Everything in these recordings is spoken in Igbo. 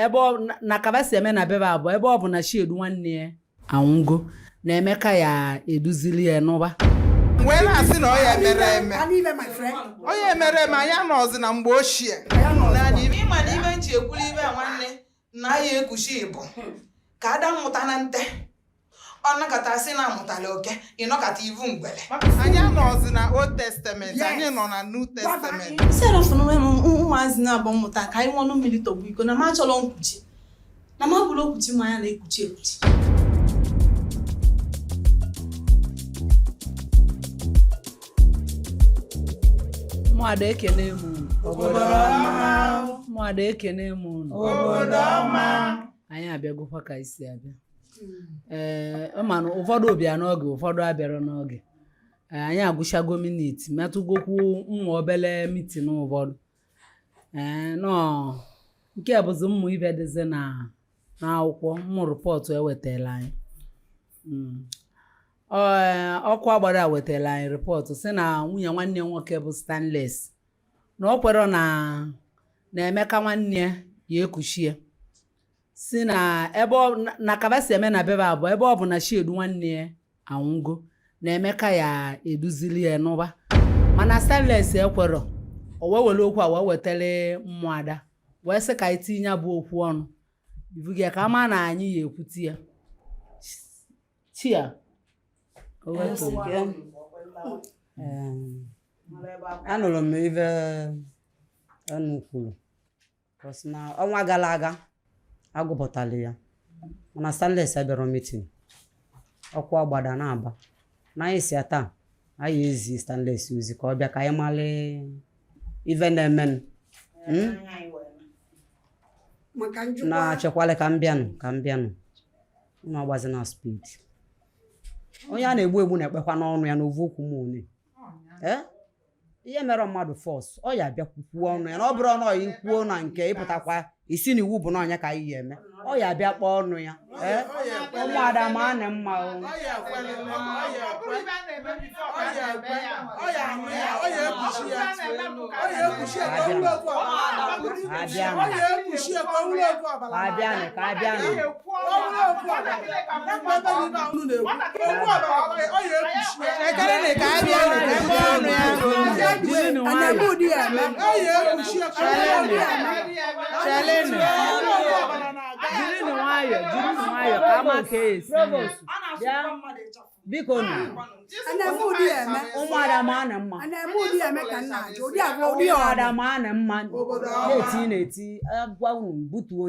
ebe na ka va si eme na be va bụ ọ ebe ọ bụ na chiedu nwanne ya anwụgo na emeka ya eduzili ya n'ụba wee na-asị na ọ ya emere eme ọ ya emere eme anyị anọzi na mgbe ochie ị ma na ime nji ekwuli ive nwanne na ya ekuchi bụ ka ada mmụta na nte ọ nọkata sị na amụtala oke ị nọkata ị vụ ngwele anyị anọzi na old testament anyị nọ na new testament serọf na onwe m ụmụazị na-abụ mmụta ka anyị ṅụọnụ mmiri tọgbọ iko na m achọrọ nkuchi na m abụrọ okwuchi ma ya na-ekpuchi ekpuchi ụmụada ekene m ụmụada ekene m ụnụ anyị abịagokwa ka e si abịa ee eh, mana ụfọdụ bịa n'oge ụfọdụ abịara n'oge eh, anyị agụchago minit metụgokwu nwa obele mitin ụfọdụ ee eh, nọ nke bụzi mmụ ive dịzi na n'akwụkwọ mụ rịpọtụ e wetala anyị hmm. ọkụ agbara wetara anyị rịpọtụ si na nwunye nwanne nwoke bụ stanles na ọ kwerọ na emeka nwanne ya ya ekuchie si na ebe na ka va si eme na be va bụ ọ ebe ọ bụ na chiedu nwanne ya anwụgo na emeka ya eduzili ya n'ụba mana stanles ekwerọ o wee were okwu a wee wetara ụmụada wee sị ka anyị tinye bụ okwu ọnụ ibugi ya ka a ma na anyị ya ekwuti ya chia anụrụ m ive ụnụ kwuru Because na ọnwa gara aga agụpụtala ya mana stanles abịara mitin ọkụ agbada na-aba na anyị si ya taa anyị ezi stanles ozi ka ọ bịa ka anyị mara ive na-eme hmm? na-achekwala ka m bịanụ ka m bịanụ unu agbazi na speed onye a na-egbu egbu na-ekpekwanụ ọnụ ya n'ovu okwu m one ị ya emere mmadụ force ọ ya bịa kwuo ọnụ ya na ọ bụrụ ọnụ ọyị kwuo na nke ị pụtakwa ị sị na iwu bụ na ọ nya ka anyị ya eme ọ ya bịa kpee ọnụ ya ee ụmụada ma a na mma o abịanụ ka abịanụ biko ụmụada ma na mma ụmụada ma na mma na-eti na-eti ngwa unu butuo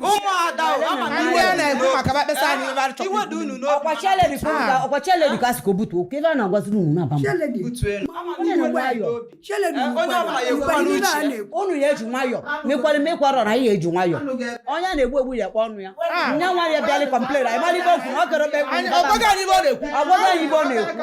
ụmụada ọkwa cheledi ka a sị ka o butu oke ebe a na-agwaziri unu na aba m unu ya eji nwayọ mekwara mekwara na anyị eji nwayọ onye a na-egbu egbu ya kpọ ọnụ ya nya nwa ya bịalị complain anyị mara ibe okwu ọ kere okpe ọ gwaghị anyị ibe ọ na-ekwu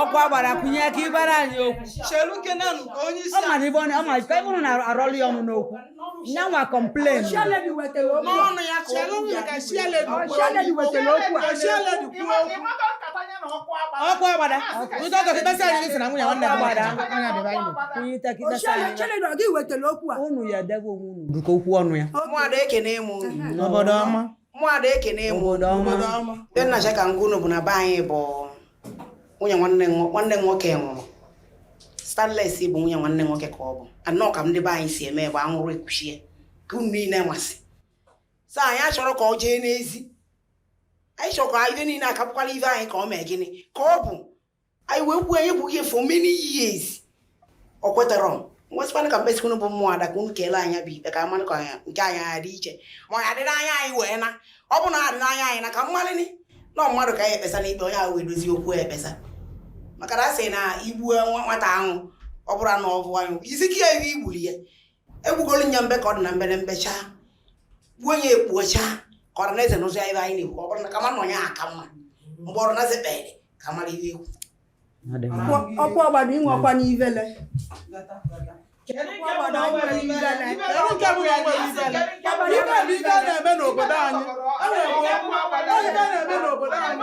ọkwa gbara kụnye aka ịgbara anyị okwu ọ mara ibe ọ ma ife ụnụ na-arọlụ ya ọnụ n'okwu nyanwa complain ọkwa gbara ụtọ ọtọ kịtasị anyị sị na nwunye nwanne ya gbara anya bịa be anyị onye ite kịtasị anyị ụnụ ya debe onwe ụnụ dịka okwu ọnụ ya ụmụada ekene m unu. n'obodo ọma ụmụada ekene m Obodo ọma. obodo ọma ndị m na-achọ ka m gwa unu bụ na be anyị bụ nwunye nwanne nwo- nwanne nwoke nwụrụ stanles bụ nwunye nwanne nwoke ka ọ bụ anọ ka ndị be anyị si eme bụ a nwụrụ ekuchie ka unu niile masị so anyị achọrọ ka ọ jee n'ezi anyị chọrọ ka ife niile a ka bụkwara ife anyị ka ọ mee gịnị ka ọ bụ anyị wee kwuo anyị gwughị for many years o kweterọ m wee sịkwana ka m kpesịkwa unu bụ ụmụada ka unu kelee anya bụ ikpe ka mmanụ ka nke anyị adị iche ma ọ ya adịrị anya anyị wee na ọ bụ na adịrị anya anyị na ka mmalịni na mmadụ ka anyị ekpesa n'ikpe onye ahụ wee dozie okwu ekpesa maka na a sị na igbu nwata ahụ ọ bụrụ na ọ bụ anyị isi ka ya igbuli ya egbugolu nya mbe ka ọ dị na mbere mbecha gbuo ya ekpuocha ka ọrụ na eze n'ụzọ ebe anyị na-ekwu ọ bụrụ na kama nọ ya aka mma mgbe ọrụ na eze kpere ka mara ihe ekwu ọkwa ọgbada inwe ọkwa n'ivele na-eme n'obodo anyị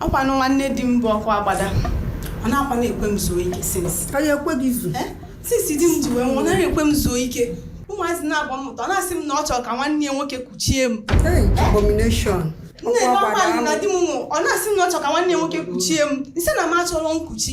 ọkwanụ nwanne di m bụ ọkụ agbada ọ na-akwa na-ekwe m zuo ike since ka ya ekwe gị zu eh? since di m ji wee nwụọ naghị ekwe m zuo ike ụmụazị na-agba mmụta ọ na-asị m na ọ chọrọ ka nwanne ya nwoke kuchie m abomination nne na ọkwa na di m nwụọ ọ na-asị m na ọ chọrọ ka nwanne ya nwoke kuchie m m sị na m achọrọ nkuchi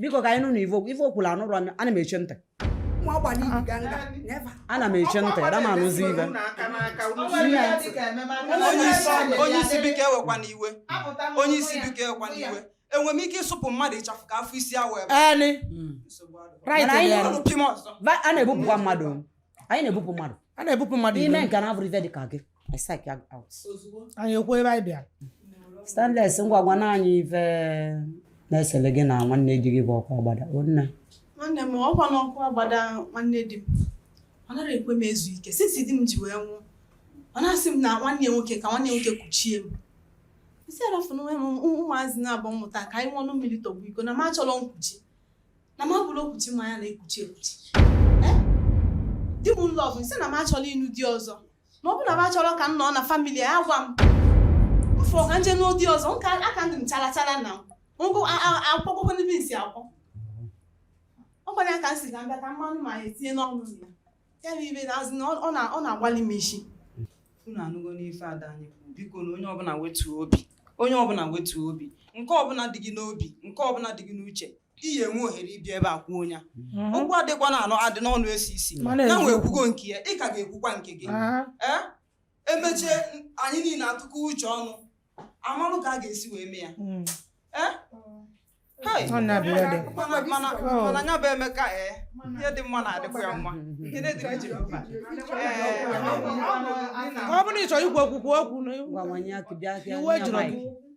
biko ka anyị nụ na ive ọ ive o kwuru anụrụ ana m eche ntị ana m eche ntị ada m anụzi ive onye isi biko ewekwana iwe onye isi biko ewekwana iwe enwere m ike ịsụpụ mmadụ ịchafụ ka afọ isi awụ ebe a na-ebupụkwa mmadụ anyị na-ebupụ mmadụ i mee nke na-abụrọ ife dị ka gị I psych ya out. anyị ekwu ebe anyị bịara Stainless ngwa gwana anyị ife na-esele gị na nwanne di gị bụ ọkụ agbada. O nne. nwanne m ọkwa n'ọkụ agbada nwanne di m ọ narọ ekwe m ezu ike since di m ji wee nwụọ ọ na-asị m na nwanne ya nwoke ka nwanne ya nwoke kuchie m m sị ya rafụ na enwee m ụmụ- ụmụazị naabọ m mụta ka anyị ṅụọ mmiri tọgbọ iko na m achọrọ nkuchi na m abụrọ okwuchi mmanya na-ekwuchi ekwuchi Eh? di m love m sị na m achọrọ ịnụ di ọzọ ma ọ bụ na m achọrọ ka m nọ na family a gwa m m fụọ ka m je nụọ di ọzọ nka aka ndị m chara chara na m gụ akwụkwọ ndị nsi akwọ ọ kwara ya ka m si ka m bịa ka mmanụ ma ya etinye n'ọnụ ya ya bụ ive na azụ na ọ na- ọ na-agbali m isi unu anụgonụ ife ada anyị kwuru bikonu onye ọbụla wetuo obi onye ọbụla wetuo obi nke ọbụla dị gị n'obi nke ọbụla dị gị n'uche ị ya-enwe ohere ịbịa ebe a kwuo ya mhm. okwu adịkwa na anọ adị n'ọnụ esi isi ya nwa ekwugo nke ya ị ka ga-ekwukwa nke gị ee emechie anyị niile atụkọ uche ọnụ a malụ ka a ga-esi wee mee ya mm. ee mana ya bụ emeka ee ihe dị mma na-adịkwa ya mma ọ bụrụ na ị chọrọ ikwu okwu okwu iwe jụrụ gị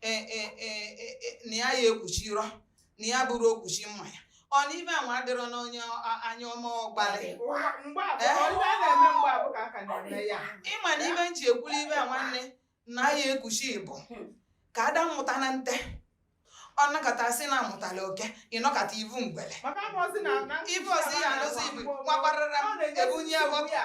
e, e, e, na ya ya ekwuchirọ na ya abụrọ okwuchi mmanya ọ na ive anwa adịrọ n'onye anya ọma ọgbalị ị ma na ive m ji ekwuli ive a nwanne na ya ekwuchi bụ hmm. ka a da amụta na nte ọ nọkata sị na amụtala oke ị nọkata ị vụ ngwele ivu ọzọ ya anụzi ibu nwakwarara ebunye ya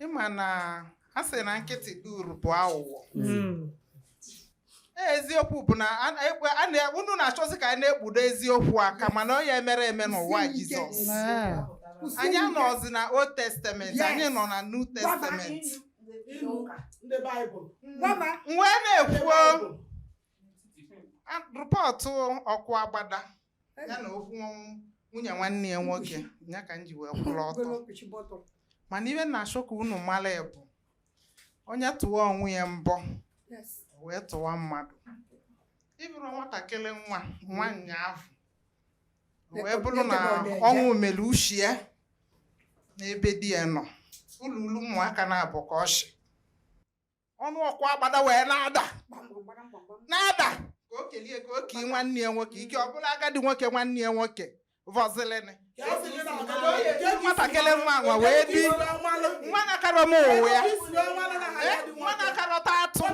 ị ma na a sị na nkịtị dị uru bụ aghụghọ Mm. Ee, eziokwu bụ na a- ekwe- a na- unu na-achọzi ka anyị na-ekpudo eziokwu aka mana ọ ya emere eme n'ụwa Jizọs Ah. anyị anọzi na Old Testament Yes. anyị nọ na New Testament ndị baịbụl Gwaba. m wee na-ekwu report ọkụ agbada ya na okwu nwunye nwanne ya nwoke ya ka m ji wee kwụrụ ọtọ mana ive m na-achọ ka unu mara bụ onye tụwa onwe ya mbọ wee tụwa mmadụ ị bụrụ nwatakịrị nwa nwanyị afụ wee bụrụ na ọnwụ mere uche ya n'ebe di ya nọ ụlụlụ ụmụaka naabọ ka ọ chị ọnụ ọkụ agbada wee na-ada na-ada ka o kelie ka o kee nwanne ya nwoke ike ọ bụlụ agadi nwoke nwanne ya nwoke vọzilini nwatakịrị nwa nwa wee bi nwa na-akarọ m ụwa ya nwa na-akarọta atụ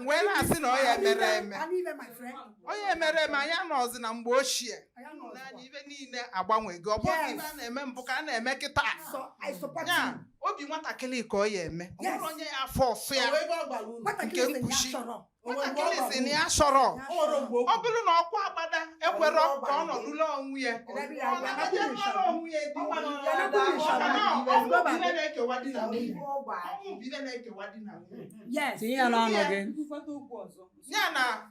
wee na-asị na ọ ya mere eme ọ ya emere eme anyị nọzi na mgbe ochie na ibe niile agbanwego ọ bụrọ ibe a na-eme mbụ ka a na-eme kịta ya obi nwatakịrị ka ọ ya eme ọ bụrụ onye ya afọ ọsụ ya nke nkuchi nwatakịrị sị na ya achọrọ ọ bụrụ na ọkụ agbada ekwere ka ọ nọlụ onwe ya ya na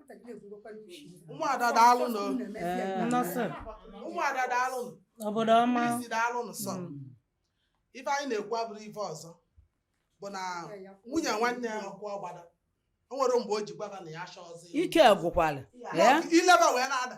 ụmụada daalụnụ nnọsọ ụmụada daalụnụ obodo ọma isi daalụnụ sọ ife anyị na-ekwu abụrọ ife ọzọ bụ na nwunye nwanne ya ọkụ agbada o nwere mgbe o ji gwa ba na ya achọrọzi ya. ike gwụkwara ee ileba wee na-ada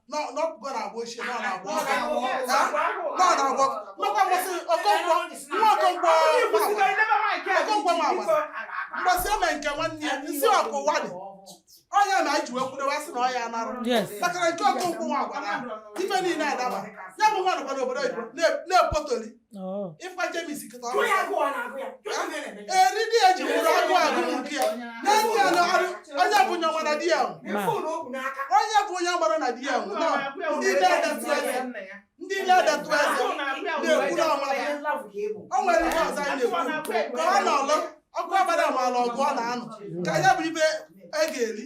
n'ọpụgo na-agba ochie nọ na-agba maka mgbasị okonkwọ nwa okonkwọ okonkwọ ma agbasị mgbasị eme nke nwanne ya nsị ọkụ ụwa dị ọnya na anyị ji wee kwudewe asị na ọ ya anarụ maka na nke okonkwọ nwa agwara ife niile adaba ya bụ nwa nọkwa n'obodo oyibo na-epotoli ịkwa jemis kịta ọrụ eriri eji nwụrụ agụ agụ nke ya n'enyi ya n'ọrụ onye bụ onye mara na di ya onye bụ onye mara na di ya nwụ na ndị ile adatụ eze ndị ile adatụ eze na-ekwu na ọmara o nwere ihe ọzọ anyị na-ekwu ka ọ nọlụ ọkụ agbada ma ala ọgụ ọ na-anụ ka ya bụ ibe e ga-eri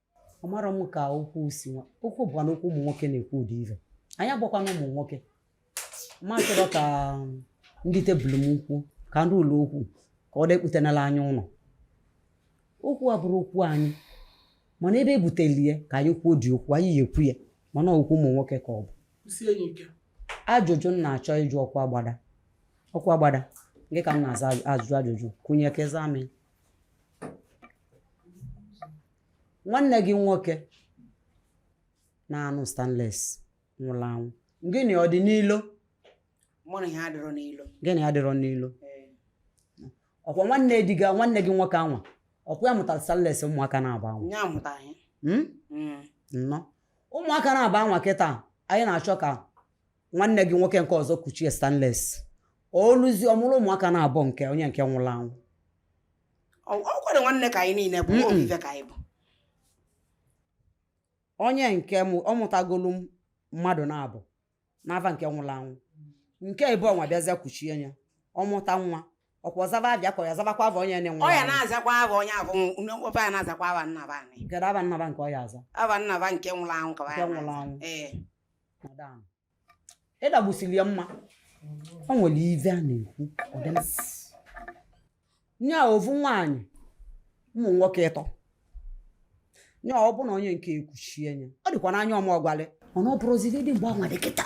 amarọ m ka okwu si nwa okwu bụkwa na okwu ụmụ nwoke na-ekwu ụdị ife anyị agbakwana ụmụ nwoke ma chọrọ ka ndị tebụl m ukwu ka ndị ụlọ okwu ka ọ dekputenala anya ụdị okwu a abụrọ okwu anyị mana ebe e buteli ya ka anyị kwuo ụdị okwu anyị ya ekwu ya mana okwu ụmụ nwoke ka ọ bụ ajụjụ m na-achọ ịjụ ọkụ agbada ọkụ agbada nke ka m na-aza ajụjụ ajụjụ kwụnye ka ị zaa m nwanne gị nwoke na-anụ stanles nwụrụ anwụ gị na ya ọ dị n'ilo mụ na ya adịrọ n'ilo gị na ya adịrọ n'ilo Ee. ọkwa nwanne di gị nwanne gị nwoke anwa ọkwa ya mụtara stanles ụmụaka naabọ anwa nye amụta anyị Hmm? Mm. nnọọ ụmụaka naabọ anwa kịta anyị na-achọ ka nwanne gị nwoke nke ọzọ kuchie stanles o luzie ọ mụrụ ụmụaka na-abụ nke onye nke nwụrụ anwụ ọ kwere nwanne ka anyị niile bụ ovu ive ka anyị bụ onye nke ọ mụtagolu mmadụ na-abụ n'ava nke nwụrụ anwụ nke ebe ọnwa bịazịa kuchie ya ọ mụta nwa ọ kwa ọ zaba abịa ka ya zabakwa ava onye na-enwe ọ ya na-azakwa ava onye abụ nwoke ya na-azakwa ava nna be anyị kedu ava nna be nke ọ ya-aza ava nna be nke nwụrụ anwụ ka ya nwụrụ anwụ ee madam ịdagbusiri ya mma o nwere ive a na-ekwu ọdịna nye a ovu nwaanyị ụmụ nwoke ịtọ nye ọ bụ na onye nke e kuchinye ọ dịkwa n'anya ọma ọgwalị mana ọ bụrụziri dị mgbe anwa dị kịta